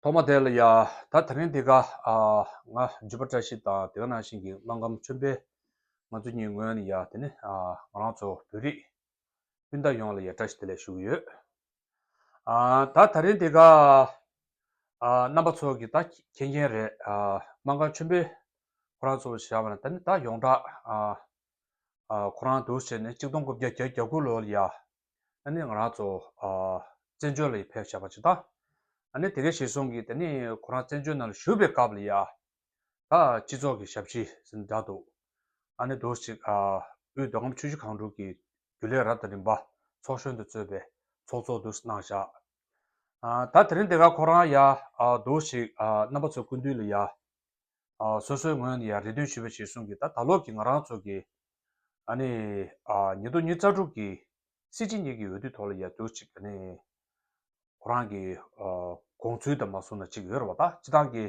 ཐོག་མ་དེ་ལ་ཡ། ད་ད་རིང་འདི་ག། ང་བརྗོད་པ་བཀྲ་ཤིས་དང་དེ་ག་ནང་བཞིན་གྱི་རླངས་ཁམས་མཆོན་པས་ང་ཚོ་གཉིས་ངོས་ནས་ཡ། དེ་ནི་ང་རང་ཚོ་བོད་རིགས་སྤུན་ཟླ་ཡོངས་ལ་ཡ་བཀྲ་ཤིས་བདེ་ལེགས་ཞུ་གི་ཡོད། ད་ད་རིང་འདི་ག། རྣམ་པ་ཚོ་གི་ད་མཁྱེན་མཁྱེན་རེད། རླངས་ཁམས་མཆོན་པས་ཁོ་རང་ཚོ་བཞག་པ་ན་ད་ནི་ད་ཡོངས་གྲགས། ཁོ་རང་དུ་བྱས་ནས་གཅིག་སྟོང་དགུ་བརྒྱ་བརྒྱ་བརྒྱ་དགུ་ལོ་ལ་ཡ། ཨ་ནི་ང་རང་ཚོ་བཙན་བྱོལ་ལ་ཡི་ཕེབས་བྱས་པ་ཇི་ལྟ། ཨ་ནི་དེ་གའི་ཞེས་སོང་གིས་དེ་ནི་ཁོ་རང་བཙན་བྱོལ་ནང་ལ་བཞུགས་པའི་སྐབས་ལ་ཡ། ད་སྤྱི་ཚོགས་ཀྱི་ཞབས་ཕྱི་ཟིན་འདྲ་འདུག་ཨ་ནི་དུ་ཞིག་དབུས་རྡོ་ཁམས་ཆུ་བཞི་གངས་དྲུག་གི་རྒྱུ་ལས་རབ་དང་རིམ་པ་ཚོགས་གཞོན་དུ་གཙོས་པའི་ཚོགས་གཙོ་དུ་གནང་བཞག་ད་དེ་རིང་དེ་ག་ཁོ་རང་ཡ། དུ་ཞིག་རྣམ་པ་ཚོ་སྐུ་མདུན་ལ་ཡ། སོ་སོའི་ངོས་ནས་ཡ་རེ་འདོན་ཞུས་པ་ཞེས་སོང་གིས་ད་ད་ལོག་གི་ང་རང་ཚོ་གི་ཨ་ནི། ཉིས་སྟོང་ཉིས་རྩ་དྲུག་གི། སྲིད་སྤྱི་གཉིས་ཀྱི་འོས་བསྡུའི་ཐོག་ལ་ཡར་འགྱུར་ཅིག་ག་ནི། ཁོ་རང་གི། དགོངས་ཚུལ་དང་མ་གསུངས་ན་ཅིག་ཡོད་རེད་བ་ད་ཅི་སྟངས་ཀྱི།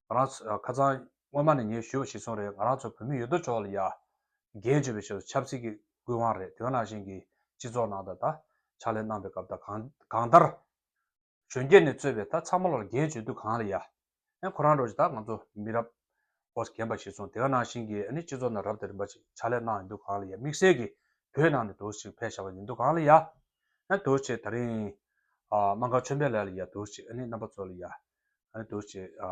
ང་རང་ཚོ་ཁ་ཚང། སྔོན་མ་ནས་ངས་ཞུས་བ་ཞིག་སོང་རེད་ང་རང་ཚོ་བོད་མི་ཡོད་དོ་ཅོག་ལ་ཡ། རྒན་བྱེད་པའི་ཆེད་དུ་ཆབ་སྲིད་ཀྱི་དགོས་དབང་རེད་དོན་ནང་བཞིན་གྱི་སྤྱི་ཚོགས་ནང་དང་ད། ཕྱག་ལས་གནང་པའི་སྐབས་ད་གང་ལྟར། གཞོན་སྐྱེས་ནས་གཙོས་པའི་ད་ཚང་མ་ལོར་རྒྱའི་བརྗོད་བསྡུ་གང་ལ་ཡ། ཨན་ཁོ་རང་འགྲོ་ཅིག་ད་ང་ཚོ་མི་རབས། བོ་རྒན་པ་ཞིག་སོང་དེ་ག་ནང་བཞིན་གྱི་ཨ་ནི་སྤྱི་ཚོགས་ནང་རབ་དང་རིམ་པ་ཅིག་ཕྱག་ལས་གནང་ཡིན་འདུག་གང་ལ་ཡ་དམིགས་བསལ་གྱི་བོད་ནང་ནས་དུར་ཞིག་ཕེ་ཞག་པ་ཡིན་འདུག་གང་ལ་ཡ། ཨན་དུར་ཞིག་ད་རིང། ཨ། མ་མཁའ་ཆོས་འཕེལ་ལ་ལ་ཡ་དུར་ཞིག་ཨ་ནི་རྣམ་པ་ཚོ་ལ་ཡ། ཨ་ནི་དུར་ཞིག་ཨ།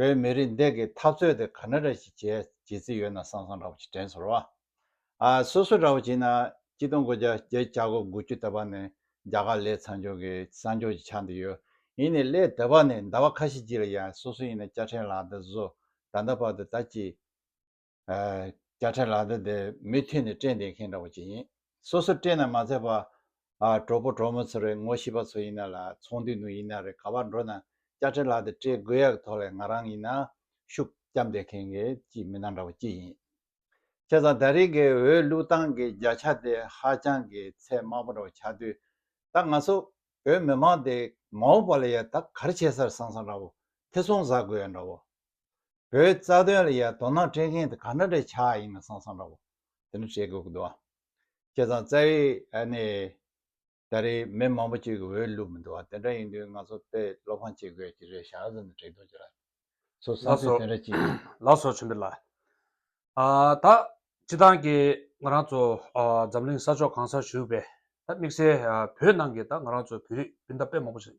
བོད་མི་རིགས་འདེགས་ཀྱི་འཐབ་རྩོད་དེ་ག་ན་ར་ཞིག་བྱས་བྱེད་རྩིས་ཡོད་ན་སང་སང་ར་བ་ཅིག་དྲན་སོར་བ། ཨ་སོ་སོ་ར་བ་ཅིག་ན་སྤྱི་སྟོང་དགུ་བརྒྱ་བརྒྱད་བརྒྱ་ཆ་གོ་དགུ་བཅུ་ད་པ་ནས་རྒྱ་གར་ལས་ཚང་ཆོག་གི་སང་ཆོག་ཅིག་ཆགས་འདི་ཡོད་ཡིན་ནས་ལས་ད་པ་ནས་ཟླ་བ་ཁ་ཤས་ཅིག་ལ་ཡང་སོ་སོ་ཡིན་ན་སྐྱ་ཕྲེང་ལགས་ད་བཟོ་ད་ད་བར་དུ་ད་ཅིག། བརྒྱ་ཕྲལ་ལག་ཟླ་འདི་མུ་མཐུད་ནས་སྤྲད་འདེད་མཁན་འདྲ་བོ་ཅིག་ཡིན། སོ་སོར་སྤྲད་ན་མ་ཚད་པ། གྲོགས་པོ་གྲོགས་མོ་ཚོ་རེད་ངོ་ཤེས་པ་ཚོ་ཡིན་ན་ལ་ཚོང་འདུས་ནང་ཡིན་ན་རེད་ག་བར་འགྲོ་ན་བརྒྱ་ཕྲལ་ལག་ཟླ་སྤྲད་དགོས་ཡག་ཐོག་ལས་ང་རང་ཡིན་ན་ཤུགས་རྒྱབ་འདེད་མཁན་གྱི་གཅིག་མི་སྣ་འདྲ་བོ་ཅིག་ཡིན། ཁྱེད་ཚང་ད་རེས་ཀྱི་འོས་བླུག་སྟངས་ཀྱི་བརྒྱ་ཆ་དེ་ཧ་ཅང་གི་ཚད་དམའ་པོ་འདྲ་བོ་ཆགས་དུས་ད་ང་ཚོ་བོད་མི་མང་དེ་མའོ་པ་ལ་ཡ་ད་གར་བྱས་སར་སང་སང་འདྲ་བོ་ཐེ་ཚོང་ཟ་དགོས་ཡག་འདྲ་བོ་བོད་རྩ་དོན་ལ་ཡང་དོ་སྣང་སྤྲད་མཁན་དེ་ག་འདྲ་འདྲ་ཆགས་ཡིན་ན་སང་སང་འདྲ་བོ་དེ་འདྲ་བྱེད་དགོས་ཀྱི་འདུག་ཨ། ཁྱེད་ཚང་རྩ་བའི་ཨ་ནི་ད་རེས་མི་མང་པོ་གཅིག་གི་འོས་བླུགས་མི་འདུག་ཨ་དེ་འདྲ་ཡིན་དུས་ང་ཚོ་དཔེ་བློ་ཕམ་བྱེད་དགོས་ཀྱི་རེད་ཞག་ཙམ་ནས་དྲན་ཐུབ་ཀྱི་རེད། ཚོ་བསམ་ཚུལ་དེ་འདྲ་གཅིག་ཡིན། ལགས་སོ་ཆུན་པོ་ལགས། ཨ་ད་སྤྱི་བཏང་གི་ང་རང་ཚོ་འཛམ་གླིང་ས་ཕྱོགས་གང་སར་བཞུགས་པའི་ད་དམིགས་བསལ་བོད་ནང་གི་ད་ང་རང་ཚོ་བོད་རིགས་སྤུན་ཟླ་དཔེ་མང་པོ་ཞིག་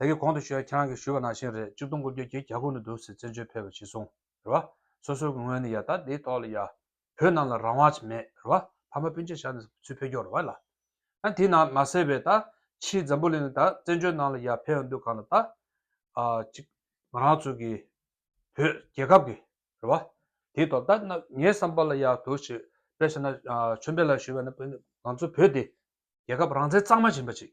བདག་གིས་གོང་དུ་ཞུས་ཡ་ཁྱེད་རང་གིས་ཞུས་པ་ནང་བཞིན་རེད་གཅིག་སྟོང་དགུ་བརྒྱ་གྱི་གྱ་དགུ་ནི་འདུག་ཟེར་བཙན་བྱོལ་ཕེབས་པ་ཇི་སོང་རེད་བ། སོ་སོའི་ངོས་ནས་ཡ་ད་འདིའི་ཐོག་ལ་ཡ། བོད་ནང་ལ་རང་དབང་མེད་རེད་བ། ཕ་མ་སྤུན་ཆེད་བཞག་ནས་ཚུར་ཕེབས་རྒྱུ་རེད་བ་ལ། ད་དེའི་ནང་མ་གསལ་བས་ད། ཕྱིའི་འཛམ་བུ་གླིང་ནས་ད་བཙན་བྱོལ་ནང་ལ་ཡ་ཕེབས་ཡ་འདུག་གང་ལ་ད། གཅིག། ང་རང་ཚོ་གིས། བོད་རྒྱལ་ཁབ་ཀྱི། རེད་བ། དེའི་ཐོག་ད་ནི་ངའི་བསམ་པ་ལ་ཡ་དོ་ཞིག་དཔེ་བྱས་ན། ཆོས་འཕེལ་ལགས་ཞུས་པ་ནི་དཔེ་ནི་ང་ཚོ་བོད་དེ། རྒྱལ་ཁབ་རང་བཙན་གཙང་མ་ཡིན་པ་ཞིག།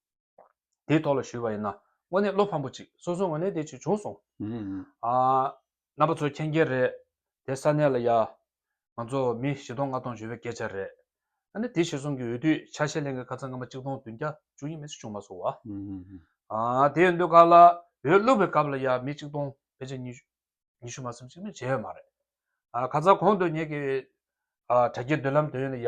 དེའི་ཐོག་ལ་ཞུས་པ་ཡིན་ན་དངོས་གནས་བློ་ཕམ་པོ་ཅིག་སོང་སོང་ངོས་ལེན་དེ་ཅིག་བྱུང་སོང། རྣམ་པ་ཚོ་མཁྱེན་མཁྱེན་རེད་དེ་ས་གནས་ལ་ཡ། ང་ཚོ་མི་བཞི་སྟོང་ལྔ་སྟོང་འཇོན་པའི་སྐད་ཆ་རེད། ཨ་ནི་དེ་བཞི་གསུམ་གྱི་འོས་བསྡུ་ཆ་ཤས་ལེན་མཁན་ཁ་ཚ་ང་མ་གཅིག་སྟོང་བདུན་བརྒྱ་བཅུ་གཉིས་མི་སུ་བྱུང་མ་སོང་བ། དེ་འོས་འདུ་ཁག་ལ་འོས་བླུགས་པའི་སྐབས་ལ་ཡ་མི་གཅིག་སྟོང་ཕལ་ཆེར་ཉི་ཤུ་མ་སུམ་ཅིག་མས་བྱས་ཡོད་མ་རེད། ཁ་ཚ་གོང་དུ་ཉེ་གི་དྲ་རྒྱའི་འདུན་ལམ་དེ་ཡོད་ན་ཡ།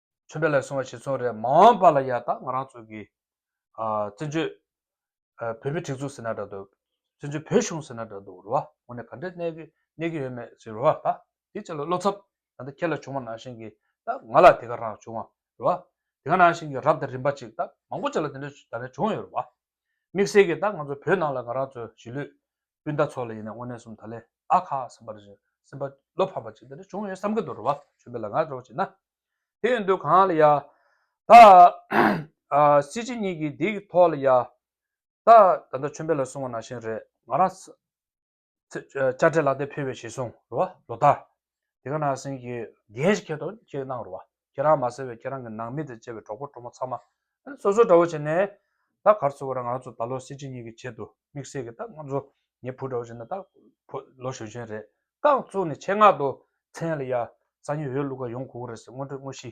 ཆོས་འབྲེལ་ལས་སོང་བ་ཞིག་ཚོང་རེད་མ་འོངས་པ་ལ་ཡ་ད་ང་རང་ཚོ་གི་བཙན་བྱོལ་བོད་མི་སྒྲིག་འཛུགས་ཟེར་ན་འདྲ་འདུག་བཙན་བྱོལ་བོད་གཞུང་ཟེར་ན་འདྲ་འདུག་རེད་བ་ངོ་ནས་ག་འདྲས་གནས་གི་གནས་གི་ཡོད་མེད་ཟེར་རེད་བ་ད་དེ་ཅི་ལ་བློ་འཚབ་ད་ལྟ་ཁྱེད་ལ་བྱུང་བ་ནང་བཞིན་གི་ད་ང་ལ་དེ་ག་རང་བྱུང་བ་རེད་བ་དེ་ག་ནང་བཞིན་གི་རབ་དང་རིམ་པ་ཅིག་ད་མང་པོ་ཅིག་ལ་དེ་འདྲས་ད་ལྟ་བྱུང་ཡོད་རེད་བ། དམིགས་བསལ་གྱིས་ད་ང་ཚོ་བོད་ནང་ལ་ང་རང་ཚོའི་གཞིས་ལུས་སྤུན་ཟླ་ཚོ་ལ་ཡིན་ན་དངོས་གནས་སུམ་ད་ལེ་ཨ་ཁ་སེམས་པ་རེ་རེ་སེམས་པ་བློ་ཕམ་པ་ཅིག་འདི་འདྲ་བྱུང་ཡོད་བསམ་གྱི་འདུག་རེ་བ་ཆོས་འཕེལ་ལ་ང་རེ་བ་བྱས་ན་དེ་ཡོད་འདུག་གང་ལ་ཡ། ད་སྲིད་སྤྱི་གཉིས་ཀྱི་འདིའི་ཐོག་ལ་ཡ། ད་ད་ཆོས་འཕེལ་ལ་གསུང་བ་ནང་བཞིན་རེད་ང་རང། བཅར་འདྲི་ལག་དེབ་ཕུལ་བའི་ཞེས་གསུངས་རོ་བ་ལོ་ད། དེ་ག་ན་སེང་གེ། རྒྱན་ཞིག་ཁྱེར་དོ་ཅེས་གནང་རོ་བ། ཁྱེད་རང་མ་ཟེར་བའི་ཁྱེད་རང་གི་ནང་མི་དང་བཅས་པའི་གྲོགས་པོ་གྲོགས་མོ་ཚང་མ། སོ་སོར་འདྲ་བོ་བྱས་ནས། ད་གར་ཚུར་བ་ར་ང་ཚོ་ད་ལོ་སྲིད་སྤྱི་གཉིས་ཀྱི་ཆེད་དུ་དམིགས་བསལ་གྱི་ད་ང་ཚོ་ངའི་བུ་འདྲ་བོ་བྱས་ནས་ད། ལོ་གཞོན་གཞོན་རེད། རྐང་བཙུགས་ནས་ཆེད་མངགས་ཏུ་མཚན་ལ་ཡ། ས་ཉིན་འོས་བླུགས་ཁ་ཡོང་གོ་གོ་རེད་ཟེར་སྔོན་འགྲོའི་དངོས་གཞི།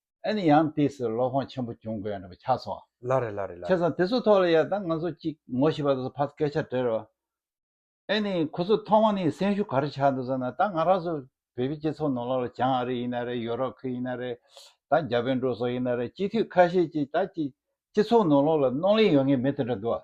ཨེ་ནི་ཡང་དེས་སུ་བློ་ཕོངས་ཆེན་པོ་བྱུང་དགོས་ཡང་རེད་པ་ཆགས་སོང། ལ་རེད་ལ་རེད་ལ་ཆགས་རེད། སོང་དེ་ཚོ་ཐོག་ལ་ཡ་ད་ང་ཚོ་གཅིག་ངོ་ཤེས་པ་དེ་ཚོ་ཕར་སྐད་ཆ་བྲེར་རོགས། ཨེ་ནི་ཁོ་ཚོ་ཐོག་མ་ནས་སེམས་ཤུགས་ག་རེ་ཆགས་འདུག་ཟེར་ན་ད་ང་རང་ཚོ་བོད་པའི་སྤྱི་ཚོགས་ནང་ལ་ལ་བྱང་ཨ་རི་ཡིན་ན་རེད་ཡོ་རོབ་ཁུལ་ཡིན་ན་རེད་ད་རྒྱ་བལ་འབྲུག་སོགས་ཡིན་ན་རེད་སྤྱི་འཐུས་ཁ་ཤས་ཀྱིས་ད་ཀྱི་སྤྱི་ཚོགས་ནང་ལ་ལ་གནོང་ལེན་ཡོད་ངེས་མེད་དེ་འདྲ་འདུག་ཨ།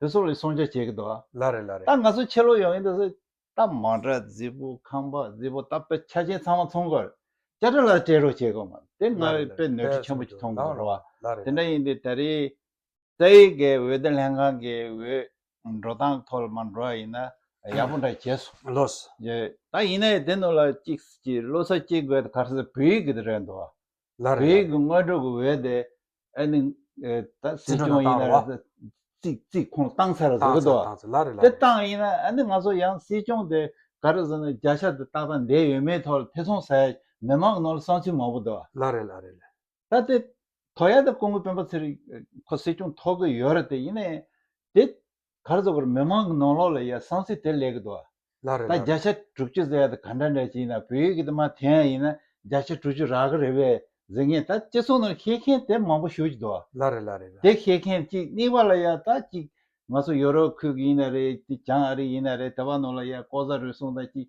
དེ་སོགས་ལས་སྲུང་བྱ་བྱེད་ཀྱི་འདུག་ཨ། ལ་རེ་ལ་རེ། ད་ང་ཚོ་ཕྱི་ལོག་ཡོང་ཡིན་འདུག་ཟེར། རྟ་མང་སྒྲ་རྫི་བོ་ཁང་པ་རྫི་བོ་རྟ་དཔེ་ཆ་ཅན་ཚང་མ་མཐོང་དགོས། བཅའ་ཁྲིམས་ལ་སྤྲད་རོགས་བྱེད་དགོས་མ་རེད་དེ་ང་ལ་རེ་ལ་རེ་དཔེ་ནོར་འཁྲུལ་ཆེན་པོ་ཅིག་མཐོང་དགོས་རེད་བ། ལ་རེ་དེ་ལ་འདྲ་རེ། ཡིན་དུས་ད་རེས་རྩ་ཡི་གའི་འོད་སྡེར་ལྷན་ཁང་གི་འོས་འགྲོ་སྟངས་ཐོག་ལ་མ་འགྲོ་བ་ཡིན་ན་ཡག་པོ་འདྲ་བྱས་སོང། བློ་ས། ད་ཡིན་ན་ཡིན་དེ་ནོར་ལ་ཅིག་གསུས་ཀྱིས་བློ་ས་སྐྱེ་དགོས་ད་གར་ས་བོད་ཡིག་གི་རེད་འདུག་ཨ། ལར་རེད། བོད་ཀྱི་དངོས་གྲུབ་ཀྱི་འོས་དེ་ཨ་ནི་ད་སྲིད་སྐྱོང་ཡིན་ན་རེད། རྩིས་ཁོང་བཏང་ཚར་རེད་ཟེར་གི་འདུག་དེ་བཏང་ཡིན་ན་ཨ་ནི་ང་ཚོ་ཡང་སྲིད་སྐྱོང་དེ་ག་རེ་ཟེར་ན་བརྒྱ་ཆ་དེ་ཏག་ཏག་འདས་ཡོད་མེད་ཐོག་ལ་ཐེ་ཚོམ་ཟ་ཡ་མི་དམངས་ནང་ལ་བསམ་ཚུལ་མང་པོ་འདུག། ལར་རེད་ལར་རེད། ད་དེ་དོ་ཡ་དེ་ཀོང་པོའི་སྤེན་པ་ཚེ་རིང་ཁོ་སྲིད་སྐྱོང་ཐོག་གི་ཡོད་རེད་དེ་ཡིན་ནའི་དེ་གར་རྫོགས་པར་མི་མང་གི་ནང་ལོག་ལ་ཡ་བསང་ཚིག་དེ་ལེགས་གི་འདུག་ཨ། ལ་རེ་ད་ལ། བརྒྱ་ཆ་དྲུག་ཅུ་ཟེར་བ་དེ་ག་འདྲ་འདྲ་ཞིག་ཡིན་ན་བོད་ཡིག་གི་དེ་མ་དེ་ཡང་ཡིན་ན་བརྒྱ་ཆ་དྲུག་ཅུ་རག་གི་རེད་བས་ཟེར་མཁན་ད་སྤྱི་ཚོགས་ནང་ཤེས་མཁན་དེ་མང་པོ་བཞུགས་ཀྱི་འདུག་ཨ། ལ་རེ་ལ་རེ་ལ། དེ་ཤེས་མཁན་གཅིག་གཉིས་པ་ལ་ཡ་ད་གཅིག་ང་ཚོ་ཡོ་རོབ་ཁུལ་གྱི་ཡིན་ན་རེད་ཅིག་བྱང་ཨ་རི་ཡིན་ན་རེད་དེ་བ་ནང་ལ་ཡ་ལྐོག་ཟ་རུལ་སུངས་དང་གཅིག་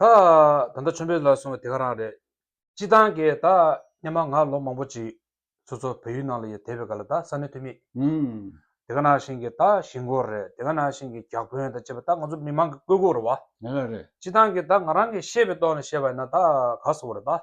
ད། ད་ལྟ་ཆོས་འབེལ་ལ་སོང་བའི་དེ་ག་རང་རེད། སྤྱི་བཏང་གི་ད། སྙན་མ་ང་ལོ་མང་པོ་བྱིས། ཚུ་ཚོ་བོད་ཡུལ་ནང་ལ་ཡི་དེ་བས་ག་ལ་ད་ས་གནས་ཐུ་མིས། དེ་ག་ནང་བཞིན་གྱི་ད་གཞིས་མགོ་རེད་དེ་ག་ནང་བཞིན་གྱི་རྒྱག་བོན་དང་བཅས་པ་ད་ང་ཚོ་མི་མང་གི་བཀོད་སྒོ་རེད་བ། སྤྱི་བཏང་གི་ད་ང་རང་གི་ཤེས་པའི་ཏོག་ནས་བཤད་པ་ཡིན་ན་ད་ག་ས་བོ་རེད་ད།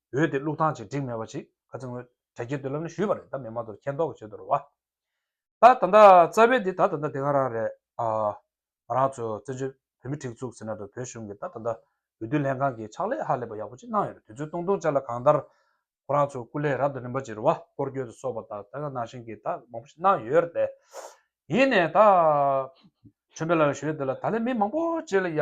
འོས་དེ་བླུག་ཐང་ཅིག་བསྒྲིགས་མེད་པ་ཞིག་ག་ཚོད་ངོས་དྲ་རྒྱའི་མདུན་ལམ་ནས་ཞུས་པ་རེད་ད་མེད་མ་གཏོགས་མཁྱེན་རྟོགས་ཀྱི་བྱེད་དུ་རུ་བ་ད་ད་ལྟ་རྩ་བའི་འདི་ད་ད་ལྟ་དེ་ག་རང་རེད་ཨ། ང་རང་ཚོ་བཙན་བྱོལ་བོད་མི་ཁྲིག་བཙུགས་ཟེར་ན་འགྲོ་བོད་གཞུང་གི་ད་ད་ལྟ་འོས་བསྡུ་ལྷན་ཁང་གི་ཕྱག་ལས་ཧ་ལས་པ་ཡག་པོ་ཅིག་གནང་ཡོད་རེད་དུས་ཚོད་སྟོང་སྟོང་སྤྱད་ལ་གང་ལྟར་ཁོ་རང་ཚོ་སྐུ་ལས་རབ་ཏུ་རིམ་པ་ཅིག་རུ་བ་སྐོར་སྐྱོད་དུ་སོགས་པ་ད་ད་ག་གནང་བཞིན་གི་ད་མང་པོ་ཞིག་གནང་ཡོད་རེད་དེ་ཡིན་ནས་ད། ཆོས་འཕེལ་ལགས་ལ་ཞུས་དེ་ལ་ད་ལས་མི་མང་པོ་བྱས་ལ་ཡ།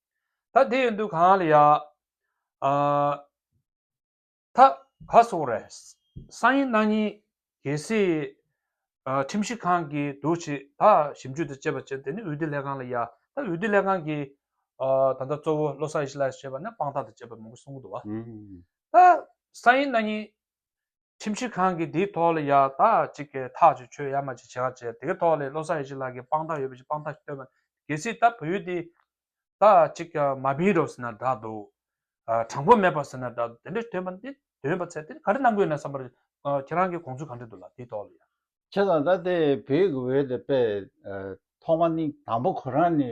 ད་དེ་ཡོད་འདུག་གང་ལ་ཡ། ད་ག་སོང་རེད། སང་ཉིན་གནངས་ཉིན་གལ་སྲིད། ཁྲིམས་ཞིབ་ཁང་གི་དུ་ཆེ་ད་ཞིབ་འཇུག་དུ་བཅད་པ་བྱེད་དེ་ནི་འོས་བསྡུ་ལྷན་ཁང་ལ་ཡ། ད་འོས་བསྡུ་ལྷན་ཁང་གི། ད་ལྟ་གཙོ་བོ་བློ་བཟང་ཡེ་ཤེས་ལགས་བྱེད་པ་ནི་དཔང་རྟགས་དུ་བཅད་པ་མང་པོ་གསུང་གི་འདུག་བ། ད་སང་ཉིན་གནངས་ཉིན་ཁྲིམས་ཞིབ་ཁང་གིས་དེའི་ཐོག་ལ་ཡག་ཐག་ཅིག་གི་ཐག་གཅོད་ཆོད་ཡ་མ་ཅིག་བྱེད་ཁག་བྱས་དེའི་ཐོག་ལས་བློ་བཟང་ཡེ་ཤེས་ལགས་ཀྱིས་དཔང་རྟགས་ཡོད་པ་ཞིག་དཔང་རྟགས་སྟོན་པ་གལ་སྲིད་ད་བོད་ཡུལ་འདི་ད་ཅིག་ཀྱང་མ་སྦིན་རོགས་ཟེར་ན་འདྲ་འདུག་དྲང་པོ་མེད་པ་ཟེར་ན་འདྲ་འདུག་དེ་འདྲའི་སྟོན་པ་འདི་འདོན་པ་ཚད་དེ་ག་རེ་གནང་དགོས་ན་བསམ་པར་ཁྱེད་རང་གིས་དགོངས་ཚུལ་གང་འདྲི་འདུག་ལ་དེའི་ཐོག་ལ་ཡག། ཁྱེད་རང་ད་ལྟའི་བོད་ཀྱི་འོས་དེ་པས་ཐོག་མ་ནི་དང་པོ་ཁོ་རང་ནི་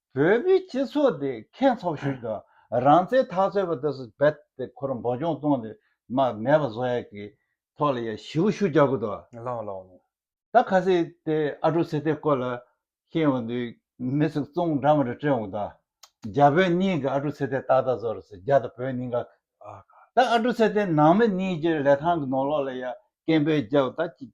བོད་པའི་སྤྱི་ཚོགས་དེ་ཁེངས་ཚོགས་ཤིག་ཏུ་རང་བཙན་ཐག་གཅོད་པ་དེ་སུ་བེད་དེ་ཁོ་རང་འབོད་སྐྱོང་གཏོང་དེ་མ་ངས་པ་བཟོ་ཡག་གི་ཐོག་ལ་ཡ་ཞི་བོ་ཤུ་རྒྱག་གི་འདུག་ལང་ལོང་ལོང། ད་ཁ་སི་དེ་ཨ་དྲུག་སི་ཐེ་སྐོར་ལ་ཤེས་ཡོང་དུས་མི་ཚོ་བཙོང་འདྲ་མ་འདྲ་སྤྲད་འོང་གི་འདུག་རྒྱ་བོད་གཉིས་ཀྱི་ཨ་དྲུག་སི་ཐེ་ཏག་ཏག་བཟོ་རུ་སོང་རྒྱ་དང་བོད་གཉིས་ཀ་ཨ་ཁ། ད་ཨ་དྲུག་སི་ཐེ་ནང་མི་གཉིས་ཀྱི་ལས་ཐང་གི་ནོར་ལོག་ལ་ཡ་སྐད་འབོད་རྒྱག་གི་འདུག་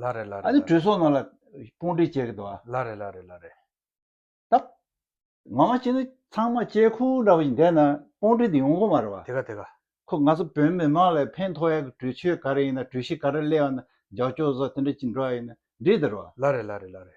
ལ་རེ་ལ་རེ་ལ་རེ། ཨ་ནི་གྲོས་ཚོགས་ནང་ལ་དཔུང་སྒྲིག་བྱེད་དགོས། ལ་རེ་ལ་རེ་ལ་རེ། ད་ང་མ་ཅི་ན་ཚང་མ་ཅལ་ཁུག་འདྲ་བོ་ཞིག་འདས་ན་དཔུང་སྒྲིག་དེ་ཡོང་གི་མ་རེད་བ། དེ་ག་དེ་ག། ཁོ་ང་ཚོ་བོད་མི་མང་ལ་ཕན་ཐོགས་ཡ་གི་གྲོས་ཆོད་ག་རེ་ཡིན་ན་གྲོས་གཞི་ག་རེ་གླེང་བ་ན་ཇག་ཆོག་ཟོག་དེ་འདྲ་ཅིག་འགྲོ་བ་ཡིན་ན་འགྲིག་ཟེར་བ། ལ་རེ་ལ་རེ་ལ་རེ།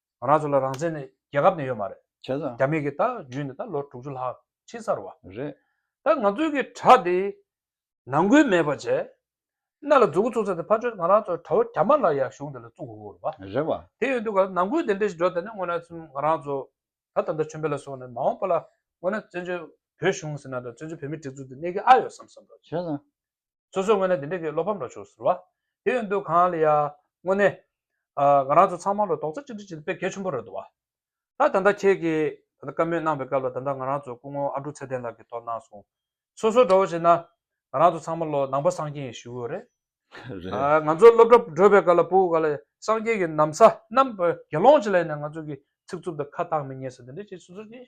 རང་ཚོ་ལ་རང་བཙན་ནི་རྒྱལ་ཁབ་ནས་ཡོད་མ་རེད། བྱས་ཙང། རྒྱ་མི་གིས་ད་བརྒྱུད་ནས་ད་ལོ་དྲུག་ཅུ་ལྷག་ཕྱིན་ཚར་བ། རེད། ད་ང་ཚོའི་གི་དྲ་དེ་ནང་འགུལ་མེད་པ་བྱས། གནའ་ལ་རྫུ་གུ་བཙུགས་ཚར་དེ་ཕར་བྱོན་ང་རང་ཚོ་དྲ་བོ་རྒྱ་མ་ལ་ཡ་གཞུང་དེ་ལ་བཙུགས་དགོས་དགོས་རེད་བ། རེད་བ། དེ་ཡོད་འདུག་ག་ནང་འགུལ་དེ་འདྲས་ཞིག་འགྲོ་དེ་ནས་སྔོན་ལ་ཚུན་ང་རང་ཚོ་ད་ད་ལྟ་ཆོས་འཕེལ་ལ་སོང་ནས་མ་འོངས་པ་ལ་སྔོན་ན་བཙན་བྱོལ་བོད་གཞུང་ཟེར་ན་དང་བཙན་བྱོལ་བོད་མི་སྒྲིག་འཛུགས་དེ་གནས་གི་ཨ་ཡོད་བསམ་བསམ་བ། བྱས་ཙང། སོ་སོའི་དངོས་གནས་འདི་འདྲའི་གི་བློ་ཕམ་འགྲོ་བྱུང་ཟེར་བ། དེ་ཡོད་འདུག་གང་ལ་ཡ། དངོས་གནས། ང་རང་ཚོ་ཚང་མ་ལོ་དོག་རྩེ་གཅིག་སྒྲིལ་བྱེད་དུ་དཔེ་གལ་ཆེན་པོ་རེད་འདུག་བ། ད་ད་ལྟ་ཁྱེད་ཀྱིས་ད་ལྟ་བཀའ་མོལ་གནང་བའི་སྐབས་ལ་ད་ལྟ་ང་རང་ཚོ་སྐུ་ངོ་ཨ་འབྲུག་ཚེ་བརྟན་ལགས་ཀྱིས་ཐོག་གནང་སོང། སོ་སོ་འདྲ་བོ་བྱེད་ན། ང་རང་ཚོ་ཚང་མ་ལོ་ནང་པ་སངས་རྒྱས་ཡི་ཞུ་བོ་རེད། ང་ཚོ་སློབ་གྲྭ་བགྲོད་པའི་སྐབས་ལ་པུའུ་ག་ལ་ཡ། སངས་རྒྱས་ཀྱི་གནམ་ས་རྣམས་དགེ་སློང་བྱེད་ལ་ཡིན་ན་ང་ཚོ་གི་ཚིག་རྩུབ་དང་ཁ་བཏགས་མི་ཉན་ཟེར་འདི་འདྲའི་ཆེད་སོ་སོ་གཅིག་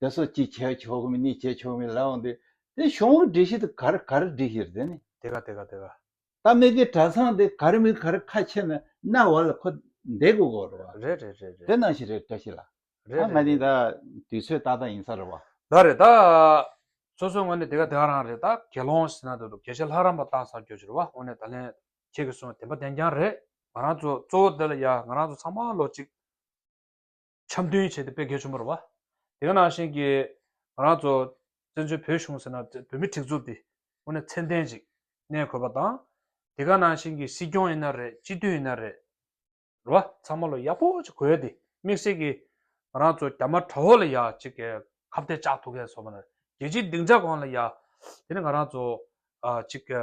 དེ་སོགས་ཅི་བྱས་ཆོག་མིན་ནི་བྱས་ཆོག་མིན་ལའང་འདུས། དེ་གཞུང་ལུགས་སྒྲིག་གཞི་དེ་གར་གར་སྒྲིག་གཞིར་བདེན་ནི། དེ་ག་དེ་ག་དེ་ག། ད་མི་དགེ་གྲྭ་ཚང་དེ་གར་མི་གར་ཁ་ཕྱེ་ན་ན་བ་ལ་ཁོ་འདས་དགོས་གོ་རེད་བ། རེད་རེད་རེད་རེད། དེ་ནང་བཞིན་རེད་བཀྲ་ཤིས་ལགས། རེད་རེད་རེད། ང་ནི་ད་དུས་ཚོད་ཏག་ཏག་ཡིན་ས་རེད་བ། ད་རེད་ད། སོ་སོའི་ངོས་ནས་དེ་ག་དེ་ག་རང་རེད་ད་དགེ་སློང་ཟེར་ན་འདོད་འདུག་དགེ་བཤེས་ལྷ་རམས་པ་བཏང་ཚར་རྒྱུ་རེད་བ་དངོས་གནས་ད་ལན་ཁྱེད་ཀྱི་གསུངས་བ་དེ་འབའ་བདེན་རྐྱང་རེད་ང་རང་ཚོ་གཙོ་བོ་དེ་ལ་ཡ་ང་རང་ཚོ་ཚང་མ་ལོ་གཅིག་འཆམ་མཐུན་བྱས་ཏེ་སྤེལ་གལ་ཆེན་པོ་རེད། དེ་ག་ནང་བཞིན་གྱི་ང་རང་ཚོ་བཙན་བྱོལ་བོད་གཞུང་ཟེར་ན་བོད་མི་ཁྲིག་རྫུབ་དེ་དངོས་གནས་ཚད་ལྡན་ཞིག་གནས་དགོས་པ་དང། དེ་ག་ནང་བཞིན་གྱི་སྲིད་སྐྱོང་ཡིན་ན་རེད་སྤྱི་འཐུས་ཡིན་ན་རེད། རེད་བ། ཚང་མ་ལོ་ཡག་པོ་ཅིག་གོ་ཡ་དེ་དམིགས་བསལ་གྱི་ང་རང་ཚོ་རྒྱ་དམར་དྲ་བོ་ལ་ཡ་ཅིག་གི་ཁ་བརྡའི་ལྕགས་ཐུག་གས་སོ་མ་རེད་རྒྱལ་སྤྱིའི་སྡིངས་ཆ་གང་ལ་ཡ་དེ་ནས་ང་རང་ཚོ་ཅིག་གི།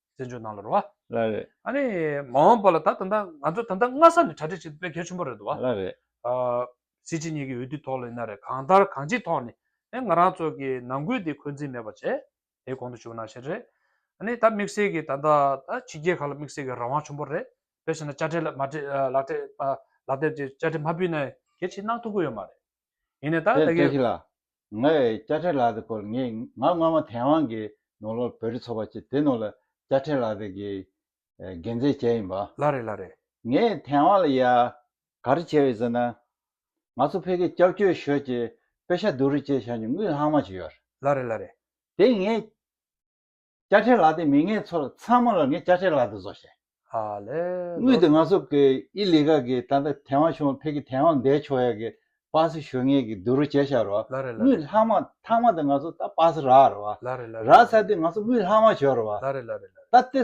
བཙན་བྱོལ་ནང་ལ་རེད་བ། ལ་རེད། ཨ་ནི་མ་འོངས་པ་ལ་ད་ད་ནྡ་ང་ཚོ་ད་ནྡ་སྔ་ས་ནས་གྲ་སྒྲིག་བྱེད་དགོས་གལ་ཆེན་པོ་རེད་དུ་བ། ལ་རེད། ཨ་སི་ཅི་གཉིས་ཀྱི་འོས་བསྡུ་ཐོག་ལ་ཡིན་ན་རེད་གང་ལྟར་གང་ཅིའི་ཐོག་ནས་ཨེ་ང་རང་ཚོ་གི་ནང་ཁུལ་དེ་འཁོན་འཛིན་མེད་པ་བྱེད་དེ་གོང་དུ་བཞུགས་ན་བཞིན་རེད། ཨ་ནི་ད་དམིགས་བསལ་གྱི་ད་ནྡ་ད་ཕྱི་རྒྱལ་ཁག་ལ་དམིགས་བསལ་གྱི་རང་དབང་ཆུན་པོ་རེད་དཔེ་བྱས་ན་དཔྱ་ཁྲལ་མ་ཁྲལ་ལག་ཁྲལ་ལག་དེབ་ཀྱི་དཔྱ་ཁྲལ་མ་ཕུལ་ན་གལ་ཆེ་གནང་ཐུབ་ཀྱི་ཡོད་མ་རེད། ཡིན་ནས་ད་ལྟ་ཀྱི། ལ། ང་ཡི་སྐྱ་ཕྲེང་ལགས་དེ་སྐོར་ངས་ང་སྔོན་མ་དེ་དབང་གི་ནོར་ལོར་བོད་རིགས་ཚོགས་པ་ཆེ་དེ་ནོར་ལ་སྐྱ་ཕྲེང་ལགས་དེ་གི་འགན་འཛིན་བྱས་ཡིན་པ། ལ་རེད་ལ་རེད། ངས་དེ་དབང་ལ་ཡ། ག་རེ་བྱས་ཡོད་ཟེར་ན། ང་ཚོ་ཕལ་གྱི་སྐྱབས་བཅོལ་ཞོལ་གྱི་དཔེ་ཤ་བསྡུ་རུ་བཅས་བྱ་མྱོང་དངུལ་ལྷག་མ་ཞིག་ཡོད། ལ་རེད་ལ་རེད། དེ་ངས། དཔྱ་ཁྲལ་ལག་དེ་མི་ངའི་ཚོར་ཚང་མ་ལ་ངས་དཔྱ་ཁྲལ་ལག་དེ་བཟོ་ཞེས། ཨ་ལེ། དངུལ་དེ་ང་ཚོ་གི་ཨི་ལི་ག་གི་ད་ལྟ་ཐེ་ཝང་ཆུང་བ་ཕེ་གི་ཐེ་ཝང་འདས་ཆོག་ཡ་གི་པགས་སེ་ཞོ་ངས་གི་དུ་རུ་བྱས་ཤག་རོ། ལ་རེ་ལ་དངུལ་རེ། ལྷག་མ་ཐག་མ་དེ་ང་ཚོ་ད་པགས་སེ་རག་རོ། ལ་རེ་ལ་རེ། རག་ས་དེ་ང་ཚོ་དངུལ་ལྷག་མ་བྱོས་རོ། ལ་རེ་ལ་རེ་ལ་རེ། ད་ཏེ།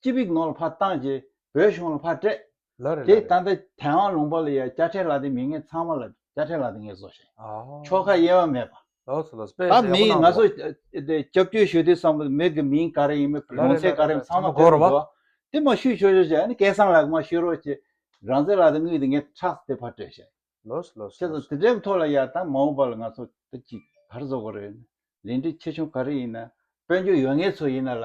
སྤྱི་བིག་ནོར་ལ་ཕར་བཏང་རྗེས་བོད་གཞུང་ལ་ཕར་སྤྲད། ལ་རེ་ལ་རེ། དེ་ད་ལྟ་དན་ཝང་ལུང་པ་ལ་ཡང་དཔྱ་ཁྲལ་ལག་དེ་མི་ངན་ཚང་མ་ལ་དཔྱ་ཁྲལ་ལག་དེ་ངས་བཟོ་བཞིན་ཡོད། ཆོལ་ཁ་དབྱེ་བ་མེད་པ། ལོགས་སུ་སྤེལ་ད་མི་ཡིས་ང་ཚོ་སྐྱབས་བཅོལ་ཞུ་དུས་སམ་མི་གི་མིང་ག་རེ་ཡིན་མིན་ཡོང་ཚད་ག་རེ་ཡིན་ཚང་མ་བོད་རུ་འགོ། དེ་མ་ཞུས་ཆོག་ཆོག་ཅེས་ཨ་ནི་སྐལ་བཟང་ལགས་མ་ཞུས་རོགས་ཅེས་རང་བཙན་ལག་དེ་དངུལ་དེ་ངས་ཁྲག་དེ་ཕར་སྤྲད་བཞིན་ཡོད། ལོགས་སུ་ཁྱེད་ཚོ་དེ་འདྲའི་ཐོག་ལ་ཡར་དང་མ་འོངས་པ་ལ་ང་ཚོ་ད་ཅིག་ག་རེ་བཟོ་དགོས་རེད། ལས་འབྲས་ཆེ་ཆུང་ག་རེ་ཡིན་ན་དཔལ་འབྱོར་ཡོད་ངེས་ཚོ་ཡིན་ན་ལ་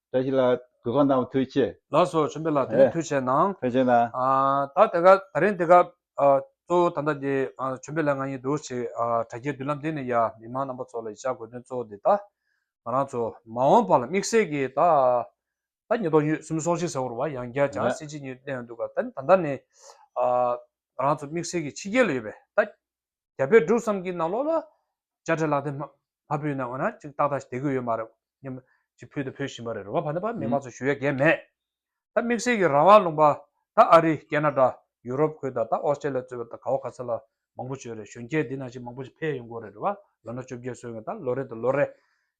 བཀྲ་ཤིས་ལགས་གུས་ཁང་དང་པོ་ཐུགས་ཆེ། ལགས་སོ་བྱོན་པའི་ལགས་དེ་ནས་ཐུགས་ཆེ་གནང། ཐུགས་ཆེ་གནང། ད་དེ་ག་ད་རིང་དེ་ག་གཙོ་བོ་ད་ལྟ་དེ་བྱོན་པའི་ལགས་ང་ཡི་འདུག་ཅིག་དྲ་རྒྱའི་མདུན་ལམ་འདི་ནས་ཡ་མི་དམངས་རྣམ་པ་ཚོ་ལ་ཡི་ཤག་དགོས་དོན་གཙོ་བོ་དེ་ད་ང་རང་ཚོ་མ་འོངས་པ་ལ་དམིགས་བསལ་གྱི་ད་ད་ཉིས་སྟོང་ཉིས་གསུམ་སོང་ཤིག་ཟེར་བར་བ་ཡང་བརྒྱ་བྱང་སེ་གཅིག་གཉིས་གནས་ཡོང་འདུག་ག་ད་ད་ནས་ང་རང་ཚོ་དམིགས་བསལ་གྱི་ཕྱི་རྒྱལ་ལ་ཡོད་པའི་ད་རྒྱ་བལ་འབྲུག་བསམ་གྱི་ནང་ལོགས་ལ་དཔྱ་ཁྲལ་ལག་དེབ་མ་ཕུལ་ན་འོ་ན་ཅིག་ཏག་ཏག་ཞིག་དེ་དགོས་ཡོད་མ་རེད་སྙམ། ཅིག་ཕུལ་དང་ཕུལ་བཞིན་པ་རེད་རེ་བ་བར་ན་བར་མི་མང་ཚོ་ཞུ་ཡ་གས་མེད། ད་དམིགས་བསལ་གྱི་རང་དབང་ལུང་པ་ད་ཨ་རི་ཀན་ན་ཀྲ་ཡུ་རོབ་ཁུལ་དང་ད་ཨོ་སྟྲེ་ལ་གཙོས་པ་ད་ག་བ་ག་ཚ་ལ་མང་པོ་བྱོས་རེད་གཞོན་སྐྱེས་འདི་ན་ཞིག་མང་པོ་ཞིག་ཕེ་ཡ་ཡོང་དགོས་རེད་རེ་བ་ལོ་ན་བཅོ་བརྒྱད་སོན་ཡང་ད་ལོ་རེད་ད་ལོ་རེད་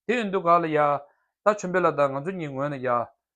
དེ་ཨིན་དུ་ག་ལ་ཡ། ད་ཆོན་པེ་ལ་ད་ང་ཚོ་གཉིས་ངོས་ན་ཡ།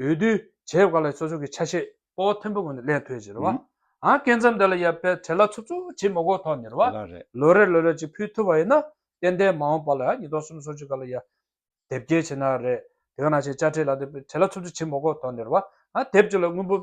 འོས་བསྡུའི་བྱེད་སྒོ་ལ་ཚོགས་ཆུང་གི་ཆ་ཤས་སྤོ་བོ་མཐོན་པོ་ངོས་ནས་ལས་མཐོའི་བྱེད་རོལ་བ་འགན་མཚམས་དེ་ལ་ཡབ་པའི་གྲལ་ལ་ཚུབ་ཚུབ་ཇི་མོ་གོ་ཐོག་ཉེར་བ་ལོ་རེར་ལོ་རེར་ཅིག་ཕུལ་ཐུབ་པ་ཡིན་ན་ཏན་ཏན་མ་འོངས་པ་ལ་ཉིས་སྟོང་གསུམ་སོ་གཅིག་ག་ལ་ཡ་དེབ་སྐྱེལ་བྱེད་ན་རེད་དེ་ག་ན་བྱེད་དཔྱ་ཁྲལ་ལ་དེབ་གྲལ་ལ་ཚུབ་ཚུབ་ཇི་མོ་གོ་ཐོག་ཉེར་བ་དེབ་སྐྱེལ་ལ་དངུལ་འབུལ།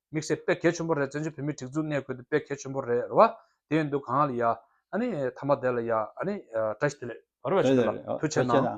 མིག་སེར་དཔེ་གལ་ཆེན་པོ་རེད་བཙན་བྱོལ་བོད་མིའི་སྒྲིག་འཛུགས་གནས་སྐོར་དེ་དཔེ་གལ་ཆེན་པོ་རེད་རེད་བ། དེ་ཡིན་དུས་གང་ལ་ཡ། ཨ་ནི་ཐ་མ་དེ་ལ་ཡ་ཨ་ནི་བཀྲ་ཤིས་དེ་ལས་བར་བས་ཆོས་དེ་ལ་ཕུལ་ཆད་ན།